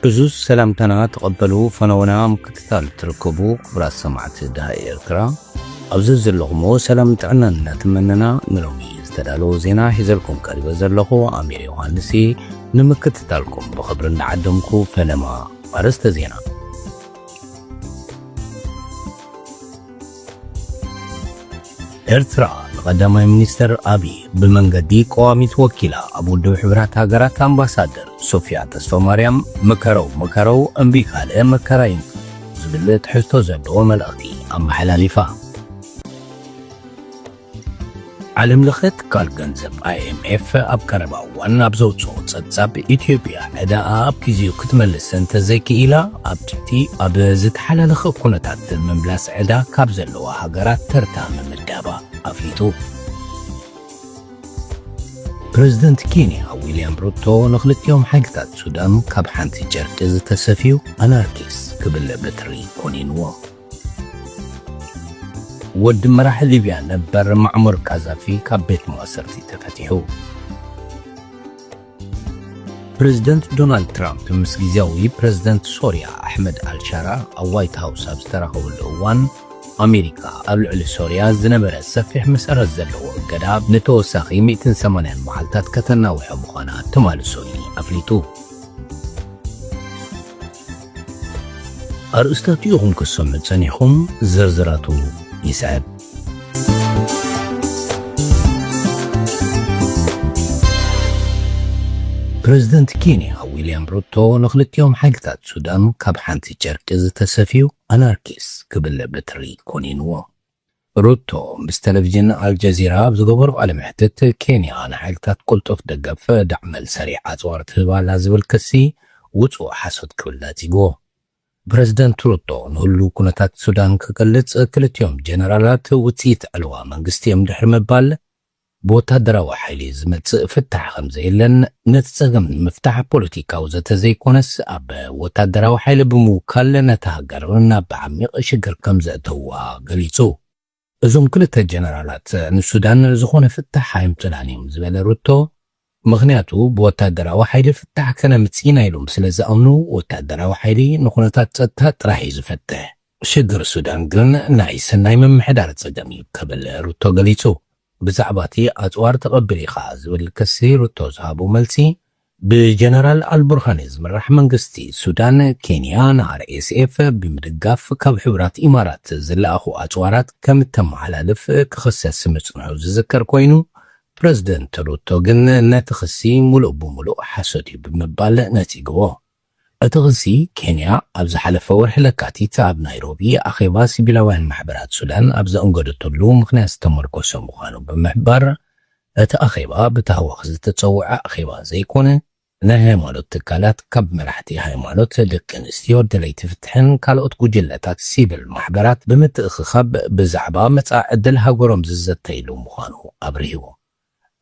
እዙዝ ሰላምታና ተቐበሉ ፈነወና ምክትታል ትርከቡ ክብራት ሰማዕቲ ድሃ ኤርትራ ኣብዚ ዘለኹምዎ ሰላም ጥዕናን እናተመነና ንሎሚ ዝተዳለወ ዜና ሒዘልኩም ቀሪበ ዘለኹ ኣሚር ዮሃንስ ንምክትታልኩም ብኽብሪ እናዓደምኩ ፈለማ ኣርእስተ ዜና ኤርትራ ንቀዳማይ ሚኒስተር ኣብይ ብመንገዲ ቀዋሚት ወኪላ ኣብ ውድብ ሕብራት ሃገራት ኣምባሳደር ሶፊያ ተስፋማርያም ምከረው ምከረው እምቢ ካልእ መከራ እዩ ዝብል ትሕዝቶ ዘለዎ መልእኽቲ ኣመሓላሊፋ። ዓለም ለኸ ትካል ገንዘብ IMF ኣብ ቀረባ እዋን ኣብ ዘውፅኦ ፀብፃብ ኢትዮጵያ ዕዳኣ ኣብ ጊዜኡ ክትመልስ እንተዘይክኢላ ኣብ ትሕቲ ኣብ ዝተሓላለኸ ኩነታት ምምላስ ዕዳ ካብ ዘለዋ ሃገራት ተርታ ምምዳባ ኣፍሊጡ። ፕረዚደንት ኬንያ ዊልያም ሩቶ ንክልቲኦም ሓይልታት ሱዳን ካብ ሓንቲ ጨርቂ ዝተሰፍዩ ኣናርኪስ ክብል በትሪ ኮኒንዎም። ወዲ መራሒ ሊብያ ነበር ማዕሙር ቃዛፊ ካብ ቤት ማእሰርቲ ተፈቲሑ። ፕረዚደንት ዶናልድ ትራምፕ ምስ ግዝያዊ ፕረዚደንት ሶርያ ኣሕመድ ኣልሻራ ኣብ ዋይት ሃውስ ኣብ ዝተራኸብሉ እዋን፣ ኣሜሪካ ኣብ ልዕሊ ሶርያ ዝነበረ ሰፊሕ መሰረት ዘለዎ እገዳ ንተወሳኺ ሚእትን ሰማንያን መዓልታት ከተናውሖ ምዃና ትማሊ ሰኑይ ኣፍሊጡ። ኣርእስታቱ ኢኹም ክትሰምዑ ጸኒሕኹም፣ ዝርዝራቱ ይስዕብ። ፕረዚደንት ኬንያ ዊልያም ሩቶ ንኽልቲኦም ሓይልታት ሱዳን ካብ ሓንቲ ጨርቂ ዝተሰፍዩ ኣናርኪስ ክብል በትሪ ኮኒንዎ። ሩቶ ምስ ተለቪዥን ኣልጀዚራ ኣብ ዝገበሮ ቃለ መሕትት፣ ኬንያ ንሓይልታት ቅልጡፍ ደገፍ፣ ዳዕመል ሰሪዕ ኣጽዋር ትህብ ኣላ ዝብል ክሲ ውጹእ ሓሶት ክብል ነጺግዎ። ፕረዚደንት ሩቶ ንህሉው ኩነታት ሱዳን ክገልጽ፣ ክልቲኦም ጀነራላት ውጽኢት ዕልዋ መንግስቲ'ዮም ድሕሪ ምባል፣ ብወታደራዊ ሓይሊ ዝመጽእ ፍታሕ ከም ዘየለን ነቲ ጸገም ንምፍታሕ ፖለቲካዊ ዘተ ዘይኮነስ ኣብ ወታደራዊ ሓይሊ ብምውካል ነታ ሃገር ናብ ዓሚቕ ሽግር ከም ዘእተዉዋ ገሊጹ። እዞም ክልተ ጀነራላት ንሱዳን ዝኾነ ፍታሕ ኣየምጹላን እዮም ዝበለ ሩቶ፣ ምኽንያቱ ብወታደራዊ ሓይሊ ፍታሕ ከነምጽእ ኢና ኢሎም ስለ ዝኣምኑ፣ ወታደራዊ ሓይሊ ንኩነታት ጸጥታ ጥራሕ'ዩ ዝፈትሕ። ሽግር ሱዳን ግን ናይ ሰናይ ምምሕዳር ጸገም'ዩ ክብል ሩቶ ገሊጹ። ብዛዕባ'ቲ ኣጽዋር ተቐቢሉ ኢኻ ዝብል ክሲ ሩቶ ዝሃቦ መልሲ፣ ብጀነራል ኣልቡርሃኒ ዝምራሕ መንግስቲ ሱዳን፣ ኬንያ ንኣርኤስኤፍ ብምድጋፍ ካብ ሕቡራት ኢማራት ዝለኣኹ ኣጽዋራት ከም እተመሓላልፍ ክኽሰስ ምጽንሑ ዝዝከር ኮይኑ፣ ፕረዚደንት ሩቶ ግን ነቲ ክሲ ሙሉእ ብሙሉእ ሓሶት እዩ ብምባል ነጺግዎ። እቲ ክሲ፣ ኬንያ ኣብ ዝሓለፈ ወርሒ ለካቲት ኣብ ናይሮቢ ኣኼባ ሲቪላውያን ማሕበራት ሱዳን ኣብ ዘኣንገደትሉ ምኽንያት ዝተመርኮሰ ምዃኑ ብምሕባር፣ እቲ ኣኼባ ብታህዋኽ ዝተጸውዐ ኣኼባ ዘይኮነ፣ ናይ ሃይማኖት ትካላት ካብ መራሕቲ ሃይማኖት፣ ደቂ ኣንስትዮ፣ ደለይቲ ፍትሕን ካልኦት ጉጅለታት ሲቪል ማሕበራት ብምትእኽኻብ ብዛዕባ መጻኢ ዕድል ሃገሮም ዝዘተይሉ ምዃኑ ኣብሪሁ።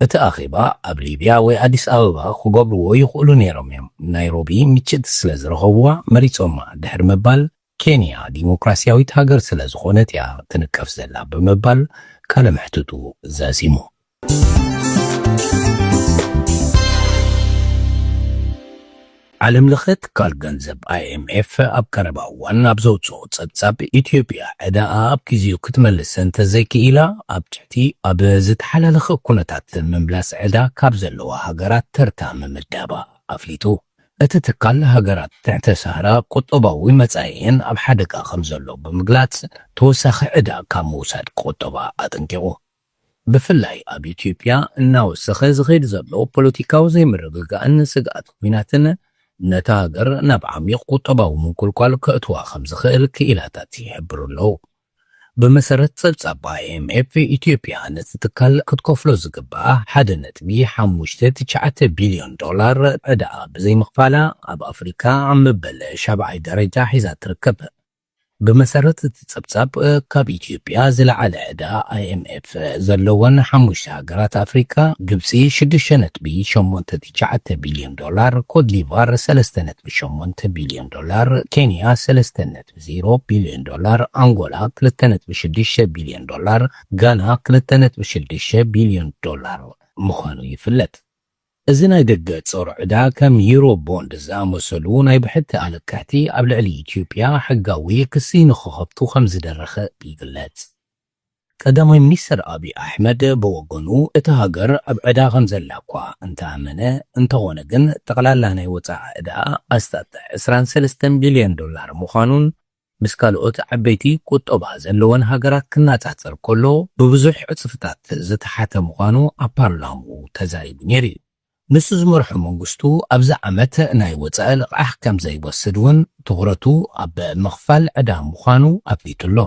እቲ ኣኼባ ኣብ ሊብያ ወይ ኣዲስ ኣበባ ክገብርዎ ይኽእሉ ነይሮም እዮም፣ ናይሮቢ ምችእቲ ስለ ዝረኸብዋ መሪጾማ ድሕሪ ምባል፣ ኬንያ ዲሞክራስያዊት ሃገር ስለ ዝኾነት እያ ትንቀፍ ዘላ ብምባል ቃለ መሕትቱ ዛዚሙ። ዓለም ለኸ ትካል ገንዘብ ኣይኤምኤፍ ኣብ ቀረባ እዋን ኣብ ዘውፅኦ ፀብፃብ ኢትዮጵያ ዕዳኣ ኣብ ግዜኡ ክትመልስ እንተዘይክኢላ ኣብ ትሕቲ ኣብ ዝተሓላለኸ ኩነታት ምምላስ ዕዳ ካብ ዘለዋ ሃገራት ተርታ ምምዳባ ኣፍሊጡ። እቲ ትካል ሃገራት ትሕተ ሳህራ ቁጠባዊ መጻኢኤን ኣብ ሓደጋ ከምዘሎ ብምግላጽ ተወሳኺ ዕዳ ካብ ምውሳድ ክቑጠባ ኣጠንቂቑ። ብፍላይ ኣብ ኢትዮጵያ እናወሰኸ ዝኸይድ ዘሎ ፖለቲካዊ ዘይምርግጋእን ስግኣት ኲናትን ነታ ሃገር ናብ ዓሚቕ ቁጠባዊ ምንቁልቋል ከእትዋ ከምዝኽእል ክኢላታት ይሕብሩ ኣለዉ። ብመሰረት ጸብጻብ IMF፣ ኢትዮጵያ ነቲ ትካል ክትከፍሎ ዝግብኣ ሓደ ነጥቢ ሓሙሽተ ትሽዓተ ቢልዮን ዶላር ዕዳኣ ብዘይምኽፋላ ኣብ ኣፍሪካ ኣብ መበል ሻብዓይ ደረጃ ሒዛ ትርከብ። ብመሰረት እቲ ጸብጻብ፣ ካብ ኢትዮጵያ ዝለዓለ ዕዳ IMF ዘለወን ሓሙሽተ ሃገራት ኣፍሪካ፣ ግብጺ ሽዱሽተ ነጥቢ ሸሞንተ ትሽዓተ ቢልዮን ዶላር፣ ኮትዲቫር ሰለስተ ነጥቢ ሸሞንተ ቢልዮን ዶላር፣ ኬንያ ሰለስተ ነጥቢ። ዜሮ ቢልዮን ዶላር፣ ኣንጎላ ክልተ ነጥቢ ሽዱሽተ ቢልዮን ዶላር፣ ጋና ክልተ ነጥቢ ሽዱሽተ ቢልዮን ዶላር ምዃኑ ይፍለጥ። እዚ ናይ ደገ ጾር ዕዳ ከም ዩሮ ቦንድ ዝኣመሰሉ ናይ ብሕቲ ኣለቅሕቲ ኣብ ልዕሊ ኢትዮጵያ ሕጋዊ ክሲ ንክኸፍቱ ከምዝደረኸ ይግለጽ። ቀዳማይ ሚኒስተር ኣብይ ኣሕመድ ብወገኑ፣ እታ ሃገር ኣብ ዕዳ ከምዘላ'ኳ እንተኣመነ፣ እንተኾነ ግን ጠቕላላ ናይ ወጻኢ ዕዳኣ ኣስታት ዕስራን ሰለስተን ቢልዮን ዶላር ምዃኑን ምስ ካልኦት ዓበይቲ ቁጠባ ዘለወን ሃገራት ክነጻጸር ከሎ ብብዙሕ ዕጽፍታት ዝተሓተ ምዃኑ ኣብ ፓርላምኡ ተዛሪቡ ነይሩ'ዩ። ንሱ ዝመርሖ መንግስቱ ኣብዚ ዓመት ናይ ወፃኢ ልቓሕ ከምዘይወስድ እውን ትኹረቱ ኣብ ምኽፋል ዕዳ ምዃኑ ኣፍሊጡ ኣሎ።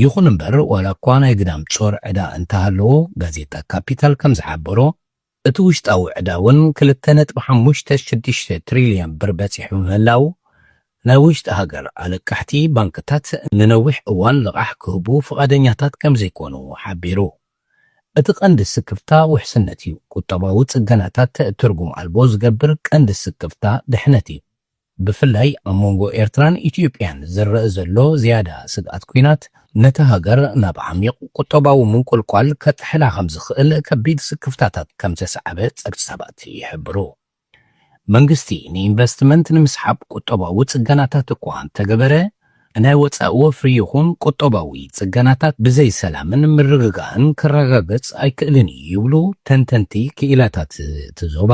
ይኹን እምበር ዋላ እኳ ናይ ግዳም ፆር ዕዳ እንተሃለዎ ጋዜጣ ካፒታል ከምዝሓበሮ እቲ ውሽጣዊ ዕዳ እውን ክልተ ነጥቢ ሓሙሽተ ሽዱሽተ ትሪልየን ብር በፂሑ ምህላው ናይ ውሽጢ ሃገር ኣለቃሕቲ ባንክታት ንነዊሕ እዋን ልቓሕ ክህቡ ፍቓደኛታት ከምዘይኮኑ ሓቢሩ። እቲ ቀንዲ ስክፍታ ውሕስነት እዩ። ቁጠባዊ ጽገናታት ትርጉም ኣልቦ ዝገብር ቀንዲ ስክፍታ ድሕነት እዩ። ብፍላይ ኣብ መንጎ ኤርትራን ኢትዮጵያን ዝረእ ዘሎ ዝያዳ ስግኣት ኲናት ነታ ሃገር ናብ ዓሚቕ ቁጠባዊ ምንቁልቋል ከጥሕላ ከምዝኽእል ከቢድ ስክፍታታት ከምዘስዓበ ጸብጻባት ይሕብሩ። መንግስቲ ንኢንቨስትመንት ንምስሓብ ቁጠባዊ ጽገናታት እኳ እንተገበረ፣ ናይ ወጻኢ ወፍሪ ይኹን ቁጠባዊ ጽገናታት ብዘይ ሰላምን ምርግጋእን ክረጋገጽ ኣይክእልን እዩ ይብሉ ተንተንቲ ክኢላታት እቲ ዞባ።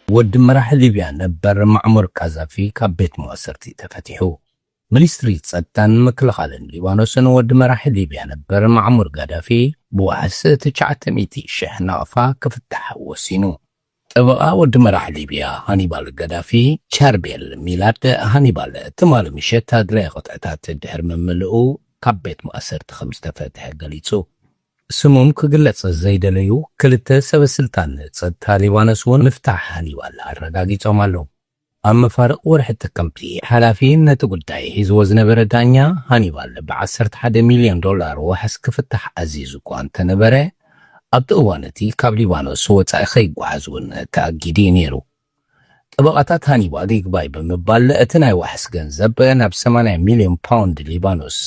ወዲ መራሒ ሊብያ ነበር ማዕሙር ቃዛፊ ካብ ቤት መዋሰርቲ ተፈቲሑ። ሚኒስትሪ ጸጥታን ምክልኻልን ሊባኖስን ወዲ መራሒ ሊብያ ነበር ማዕሙር ጋዳፊ ብዋሕስ ትሽዓተ ሚእቲ ሽሕ ናቕፋ ክፍታሕ ወሲኑ። ጠበቓ ወዲ መራሒ ሊብያ ሃኒባል ጋዳፊ ቻርቤል ሚላድ ሃኒባል ትማሊ ምሸት ኣድላይ ቅጥዕታት ድሕሪ ምምልኡ ካብ ቤት ማእሰርቲ ከምዝተፈትሐ ገሊጹ። ስሞም ክግለጽ ዘይደለዩ ክልተ ሰበስልጣን ጸጥታ ሊባኖስ'ውን ምፍታሕ ሃኒባል ኣረጋጊጾም ኣለዉ። ኣብ መፋርቕ ወርሒ ጥቅምቲ፣ ሓላፊ ነቲ ጉዳይ ሒዝዎ ዝነበረ ዳኛ ሃኒባል ብ ዓሰርተ ሓደ ሚልዮን ዶላር ዋሕስ ክፍታሕ ኣዚዙ እኳ እንተነበረ፣ ኣብቲ እዋን እቲ ካብ ሊባኖስ ወጻኢ ከይጓዓዝ እውን ተኣጊዱ እዩ ነይሩ። ጠበቓታት ሃኒባል ይግባይ ብምባል እቲ ናይ ዋሕስ ገንዘብ ናብ ሰማንያ ሚልዮን ፓውንድ ሊባኖስ፣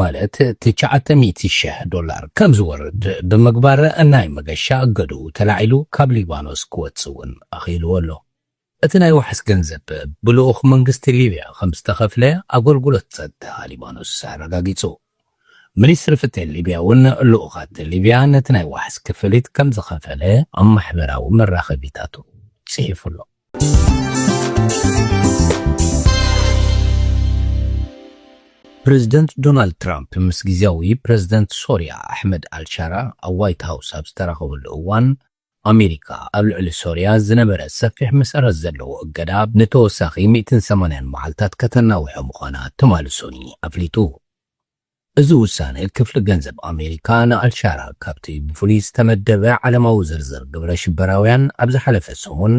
ማለት ትሽዓተ ሚእቲ ሽሕ ዶላር፣ ከም ዝወርድ ብምግባር ናይ መገሻ እገድኡ ተላዒሉ ካብ ሊባኖስ ክወጽእ እውን ኣኽኢልዎ ኣሎ። እቲ ናይ ዋሕስ ገንዘብ ብልኡኽ መንግስቲ ሊብያ ከምዝተኸፍለ ኣገልግሎት ጸጥታ ሊባኖስ ኣረጋጊጹ። ሚኒስትሪ ፍትሒ ሊብያ'ውን ልኡኻት ሊብያ ነቲ ናይ ዋሕስ ክፍሊት ከምዝኸፈለ ኣብ ማሕበራዊ መራኸቢታቱ ጽሒፉ ኣሎ። ፕረዚደንት ዶናልድ ትራምፕ ምስ ግዝያዊ ፕረዚደንት ሶርያ ኣሕመድ ኣልሻራ ኣብ ዋይት ሃውስ ኣብ ዝተራኸብሉ እዋን፣ ኣሜሪካ ኣብ ልዕሊ ሶርያ ዝነበረ ሰፊሕ መሰረት ዘለዎ እገዳ ንተወሳኺ ሚእትን ሰማንያን መዓልታት ከተናውሖ ምዃና ትማሊ ሶኒ ኣፍሊጡ። እዚ ውሳነ ክፍሊ ገንዘብ ኣሜሪካ ንኣልሻራ ካብቲ ብፍሉይ ዝተመደበ ዓለማዊ ዝርዝር ግብረ ሽበራውያን ኣብ ዝሓለፈ ሰሙን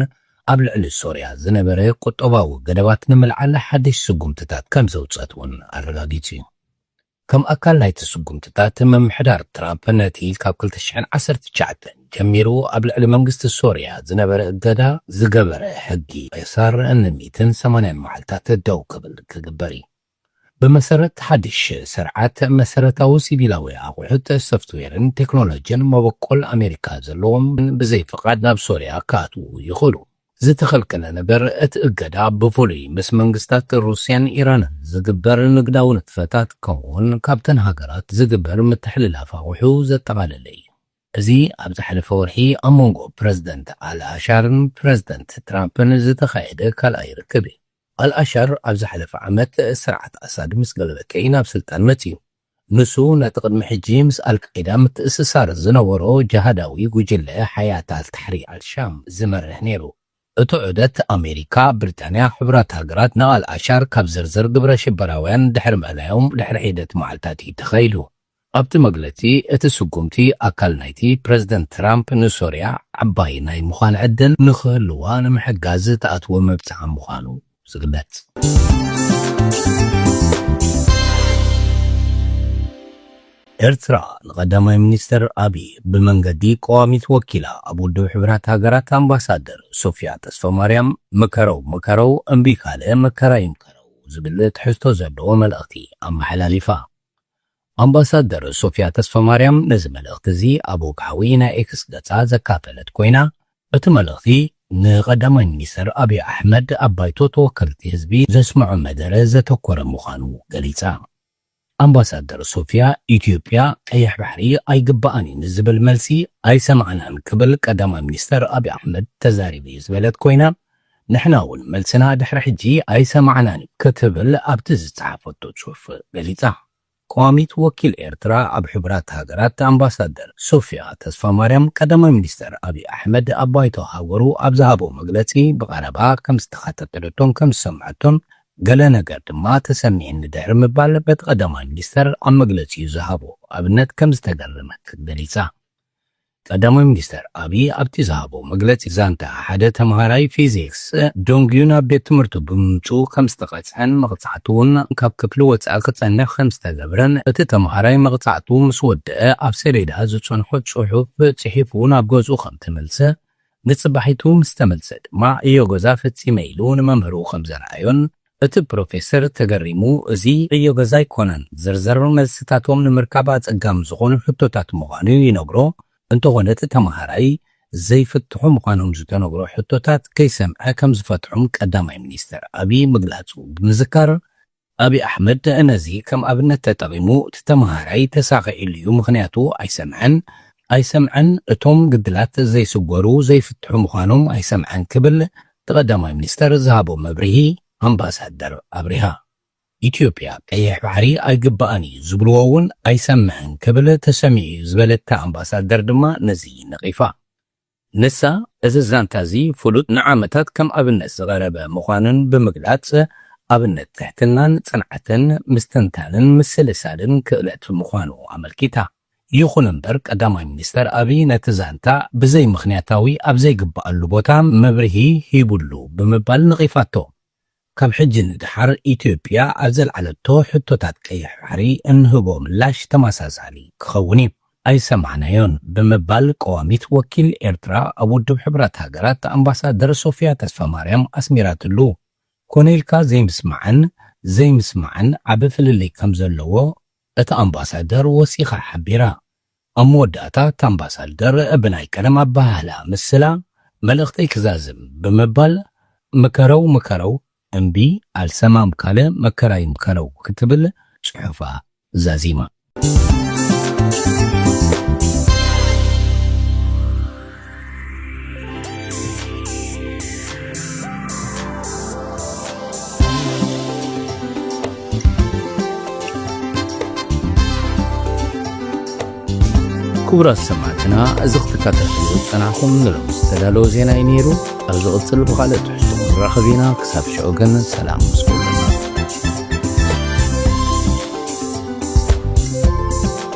ኣብ ልዕሊ ሶርያ ዝነበረ ቁጠባዊ ገደባት ንምልዓል ሓድሽ ስጉምትታት ከምዘውጸት እውን ኣረጋጊጹ እዩ። ከም ኣካል ናይቲ ስጉምትታት፣ ምምሕዳር ትራምፕ ነቲ ካብ ክልተ ሽሕን ዓሰርተ ትሽዓተን ጀሚሩ ኣብ ልዕሊ መንግስቲ ሶርያ ዝነበረ እገዳ ዝገበረ ሕጊ ቄሳር ን ሚእትን ሰማንያን መዓልታት ደው ክብል ክግበር እዩ። ብመሰረት ሓድሽ ስርዓት፣ መሰረታዊ ሲቪላዊ ኣቑሑት፣ ሶፍትዌርን ቴክኖሎጅን መበቆል ኣሜሪካ ዘለዎም ብዘይ ፍቓድ ናብ ሶርያ ክኣትዉ ይኽእሉ። ዝተኸልከለ ነገር፣ እቲ እገዳ ብፍሉይ ምስ መንግስታት ሩስያን ኢራንን ዝግበር ንግዳዊ ንጥፈታት ከምኡ'ውን ካብተን ሃገራት ዝግበር ምትሕልላፍ ኣቑሑ ዘጠቓለለ እዩ። እዚ ኣብ ዝሓለፈ ወርሒ ኣብ መንጎ ፕረዚደንት ኣልኣሻርን ፕረዚደንት ትራምፕን ዝተኻየደ ካልኣይ ርክብ እዩ። ኣልኣሻር ኣብ ዝሓለፈ ዓመት ስርዓት ኣሳድ ምስ ገለበጠ'ዩ ናብ ስልጣን መጺኡ። ንሱ ነቲ ቅድሚ ሕጂ ምስ ኣልቃይዳ ምትእስሳር ዝነበሮ ጅሃዳዊ ጉጅለ ሓያት ኣልታሕሪር ኣልሻም ዝመርሕ ነይሩ። እቲ ዑደት ኣሜሪካ፣ ብሪጣንያ፣ ሕቡራት ሃገራት ንኣልኣሻር ካብ ዝርዝር ግብረ ሽበራውያን ድሕሪ ምእላዮም ድሕሪ ሒደት መዓልታት እዩ ተኻይዱ። ኣብቲ መግለጺ እቲ ስጉምቲ ኣካል ናይቲ ፕረዚደንት ትራምፕ ንሶርያ ዓባይ ናይ ምዃን ዕድል ንኽህልዋ ንምሕጋዝ ዝተኣትወ መብጽዓ ምዃኑ ዝግለፅ። ኤርትራ ንቀዳማይ ሚኒስተር ኣብይ ብመንገዲ ቀዋሚት ወኪላ ኣብ ውድብ ሕቡራት ሃገራት ኣምባሳደር ሶፍያ ተስፋማርያም ምከረው ምከረው እምቢ ካልእ መከራ ይምከረው ዝብል ትሕዝቶ ዘለዎ መልእኽቲ ኣመሓላሊፋ። ኣምባሳደር ሶፍያ ተስፋማርያም ነዚ መልእኽቲ እዚ ኣብ ወግዓዊ ናይ ኤክስ ገጻ ዘካፈለት ኮይና፣ እቲ መልእኽቲ ንቀዳማይ ሚኒስተር ኣብይ ኣሕመድ ኣብ ባይቶ ተወከልቲ ህዝቢ ዘስምዖ መደረ ዘተኮረ ምዃኑ ገሊጻ። ኣምባሳደር ሶፍያ፣ ኢትዮጵያ ቀይሕ ባሕሪ ኣይግበኣን እዩ ንዝብል መልሲ ኣይሰማዕናን ክብል ቀዳማይ ሚኒስተር ኣብይ ኣሕመድ ተዛሪቡ እዩ ዝበለት ኮይና፣ ንሕና እውን መልስና ድሕሪ ሕጂ ኣይሰማዕናን እዩ ክትብል ኣብቲ ዝጸሓፈቶ ጽሑፍ ገሊጻ። ቀዋሚት ወኪል ኤርትራ ኣብ ሕቡራት ሃገራት ኣምባሳደር ሶፍያ ተስፋማርያም ቀዳማይ ሚኒስተር ኣብዪ ኣሕመድ ኣብ ባይቶ ሃገሩ ኣብ ዝሃቦ መግለጺ ብቐረባ ከም ዝተኸታተለቶን ከም ዝሰምዐቶን ገለ ነገር ድማ ተሰሚዕኒ ድሕሪ ምባል በቲ ቀዳማይ ሚኒስተር ኣብ መግለጺኡ ዝሃቦ ኣብነት ከም ዝተገረመት ገሊጻ። ቀዳማይ ሚኒስተር ኣብዪ ኣብቲ ዝሃቦ መግለጺ ዛንታ ሓደ ተመሃራይ ፊዚክስ ደንጉዩ ናብ ቤት ትምህርቱ ብምምጽኡ ከምዝተቐጽዐን መቕጻዕቲ'ውን ካብ ክፍሊ ወጻኢ ክጸንሕ ከምዝተገብረን እቲ ተመሃራይ መቕጻዕቱ ምስ ወደኣ ኣብ ሰሌዳ ዝጸንሖ ጽሑፍ ጽሒፉ ናብ ገዝኡ ከምተመልሰ ንጽባሒቱ ምስተመልሰ ድማ እዮ ገዛ ፈጺመ ኢሉ ንመምህሩ ከምዘርኣዮን እቲ ፕሮፌሰር ተገሪሙ፣ እዚ ዕዮ ገዛ ኣይኮነን፣ ዝርዝር መልስታቶም ንምርካብ ኣጸጋሚ ዝኾኑ ሕቶታት ምዃኑ'ዩ ይነግሮ። እንተኾነ እቲ ተመሃራይ፣ ዘይፍትሑ ምዃኖም ዝተነግሮ ሕቶታት ከይሰምዐ ከም ዝፈትሖም ቀዳማይ ሚኒስተር ኣብይ ምግላጹ ብምዝካር፣ ኣብይ ኣሕመድ ነዚ ከም ኣብነት ተጠቒሙ፣ እቲ ተመሃራይ ተሳቒዕሉ'ዩ፣ ምኽንያቱ ኣይሰምዐን፣ ኣይሰምዐን፣ እቶም ግድላት ዘይስጎሩ፣ ዘይፍትሑ ምዃኖም ኣይሰምዐን ክብል እቲ ቀዳማይ ሚኒስተር ዝሃቦ መብርሂ ኣምባሳደር ኣብሪሃ፣ ኢትዮጵያ ቀይሕ ባሕሪ ኣይግብኣን እዩ ዝብልዎ እውን ኣይሰምዕን ክብል ተሰሚዑ እዩ ዝበለት እታ ኣምባሳደር ድማ ነዚ ነቒፋ። ንሳ እዚ ዛንታ እዚ ፍሉጥ ንዓመታት ከም ኣብነት ዝቐረበ ምዃኑን ብምግላጽ ኣብነት ትሕትናን ጽንዓትን ምስትንታንን ምስልሳልን ክእለት ምዃኑ ኣመልኪታ። ይኹን እምበር ቀዳማይ ሚኒስተር ኣብይ ነቲ ዛንታ ብዘይምኽንያታዊ ኣብ ዘይግበኣሉ ቦታ መብርሂ ሂቡሉ ብምባል ነቒፋቶ። ካብ ሕጂ ንደሓር ኢትዮጵያ ኣብ ዘልዓለቶ ሕቶታት ቀይሕ ባሕሪ እንህቦ ምላሽ ተመሳሳሊ ክኸውን እዩ፣ ኣይሰማዕናዮን ብምባል ቀዋሚት ወኪል ኤርትራ ኣብ ውድብ ሕቡራት ሃገራት ኣምባሳደር ሶፍያ ተስፋማርያም ኣስሚራትሉ። ኮነ ኢልካ ዘይምስማዕን ዘይምስማዕን ዓቢ ፍልልይ ከምዘለዎ እታ ኣምባሳደር ወሲኻ ሓቢራ። ኣብ መወዳእታ እታ ኣምባሳደር ብናይ ቀደም ኣበሃህላ ምስላ መልእኽተይ ክዛዝም ብምባል ምከረው ምከረው እምቢ ኣልሰማም ካለ መከራይ ምከረው ክትብል ጽሑፋ ዛዚማ። ክቡራት ሰማዕትና እዚ ክትከታተልዎ ዝጸናሕኩም ንሎሚ ዝተዳለወ ዜና እዩ ነይሩ ኣብ ዝቕጽል ብኻልእ ትሕዝቶ ክንራኸብ ኢና ክሳብ ሽዑ ግን ሰላም ምስ ኩሉ